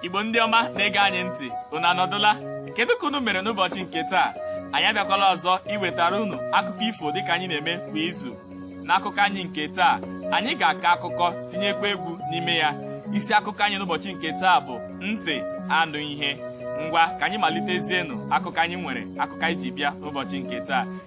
igbo ndị ọma na-ege anyị ntị unu anọdụla kedu ka unu mere n'ụbọchị nke taa anyị abịakwala ọzọ iwetara unu akụkọ ifo dịka anyị na-eme kwa izu n'akụkọ anyị nke taa anyị ga-akọ akụkọ tinyekwa egwu n'ime ya isi akụkọ anyị n'ụbọchị nke taa bụ ntị anụ ihe ngwa ka anyị malitezienụ akụkọ anyị nwere akụkọ anyị ji bịa n'ụbọchị nke taa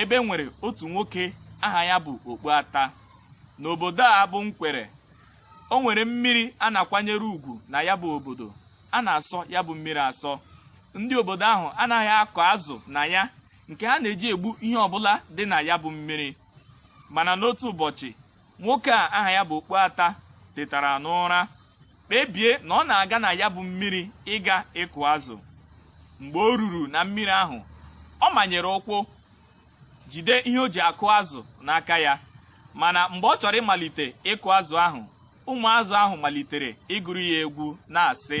ebe nwere otu nwoke aha ya bụ Okpuata n'obodo a bụ Nkwere o nwere mmiri a na-akwanyere ugwu na ya bụ obodo a na-asọ ya bụ mmiri asọ ndị obodo ahụ anaghị akọ azụ na ya nke ha na-eji egbu ihe ọbụla dị na ya bụ mmiri mana n'otu ụbọchị nwoke a aha ya bụ Okpuata tetara n'ụra kpebie na ọ na-aga na ya bụ mmiri ịga ịkụ azụ mgbe o ruru na mmiri ahụ ọ manyere ụkwụ jide ihe o ji akụ azụ n'aka ya mana mgbe ọ chọrọ ịmalite ịkụ azụ ahụ ụmụ azụ ahụ malitere ịgụrụ ya egwu na-asị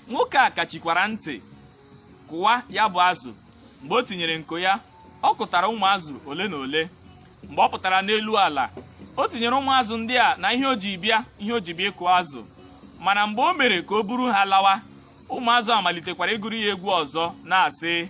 nwoke a kachikwara ntị kụwa ya bụ azụ mgbe o tinyere nko ya ọ kụtara ụmụ azụ ole na ole mgbe ọ pụtara n'elu ala o tinyere ụmụ azụ ndị a na ihe o ji bịa ihe o ji bịa ịkụ azụ mana mgbe o mere ka o buru ha lawa ụmụ azụ amalitekwara ịgụrụ ya egwu ọzọ na-asị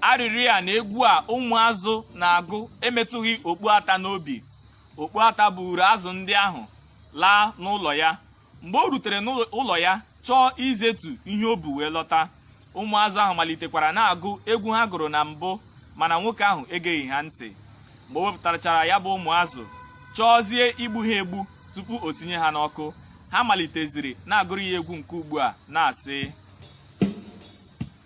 arịrị a na egwu a ụmụazụ na-agụ emetụghị okpuata n'obi okpuata buuru azụ ndị ahụ laa n'ụlọ ya mgbe o rutere n'ụlọ ya chọọ izetu ihe o bu wee lọta ụmụazụ ahụ malitekwara na-agụ egwu ha gụrụ na mbụ mana nwoke ahụ egeghị ha ntị mgbe o wepụtachara ya bụ ụmụazụ chọọzie igbu ha egbu tupu o tinye ha n'ọkụ ha maliteziri na-agụrụ ya egwu nke ugbu a na-asị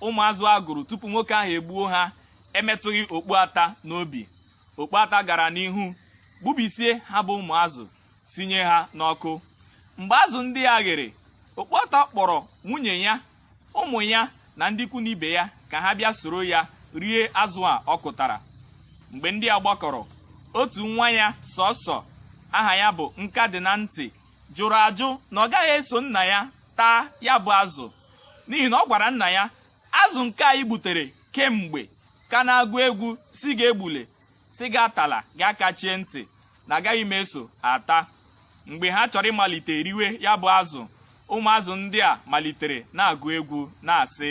ụmụazụ a gụrụ tupu nwoke ahụ egbuo ha emetụghị okpuata n'obi okpuata gara n'ihu gbubisie ha bụ ụmụazụ sinye ha n'ọkụ mgbe azụ ndị a ghere okpuata kpọrọ nwunye ya ụmụ ya na ndị ikwu na ibe ya ka ha bịa soro ya rie azụ a ọ kụtara mgbe ndị a gbakọrọ otu nwa ya sọsọ aha ya bụ nka dị na ntị jụrụ ajụ na ọ gaghị eso nna ya taa ya bụ azụ n'ihi na ọ gwara nna ya azụ nke anyị gbutere kemgbe ka na-agụ egwu sị gị egbule sị gị atala gị akachie ntị na agaghị m eso ata mgbe ha chọrọ ịmalite riwe ya bụ azụ ụmụazụ ndị a malitere na-agụ egwu na-asị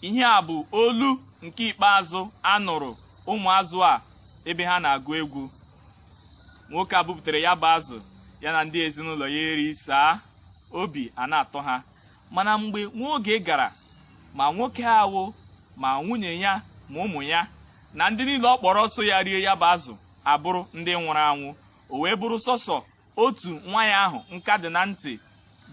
ihe a bụ olu nke ikpeazụ a nụrụ ụmụazụ a ebe ha na-agụ egwu nwoke a bupụtara ya bụ azụ ya na ndị ezinụlọ ya erisaa obi a na-atọ ha mana mgbe nwa oge gara ma nwoke ahụ ma nwunye ya ma ụmụ ya na ndị niile ọ kpọrọ so ya rie ya bụ azụ abụrụ ndị nwụrụ anwụ o wee bụrụ sọsọ otu nwa ya ahụ nka dị na ntị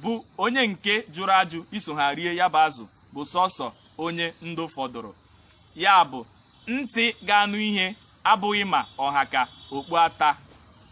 bụ onye nke jụrụ ajụ iso ha rie ya bụ azụ bụ sọsọ onye ndụ fọdụrụ ya bụ ntị ga-anụ ihe abụghị ma ọ ha ka okpu ata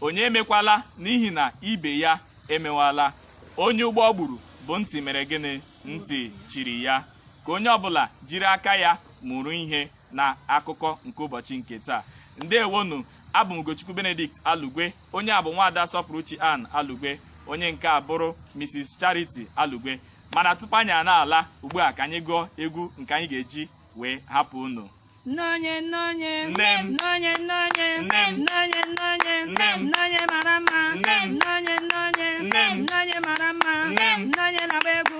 onye emekwala n'ihi na ibe ya emewala onye ụgbọ gburu bụ ntị mere gịnị ntị chiri ya ka onye ọbụla jiri aka ya mụrụ ihe na akụkọ nke ụbọchị nke taa ndewonụ abụ m Ugochukwu Benedict Alugwe onye a bụ nwaada Sọpụrụchi Ann Alugwe onye nke a bụrụ Mrs Charity Alugwe mana tupu anyị a na-ala ugbu a ka anyị gụọ egwu nke anyị ga-eji wee hapụ unu Nnonye nnonye Nne m. nnonye nnonye Nne m. nnonye nnonye Nne m. nnonye mara mma Nne m. nnonye nnonye Nne m. nnonye mara mma Nne m. nnonye na-agba egwu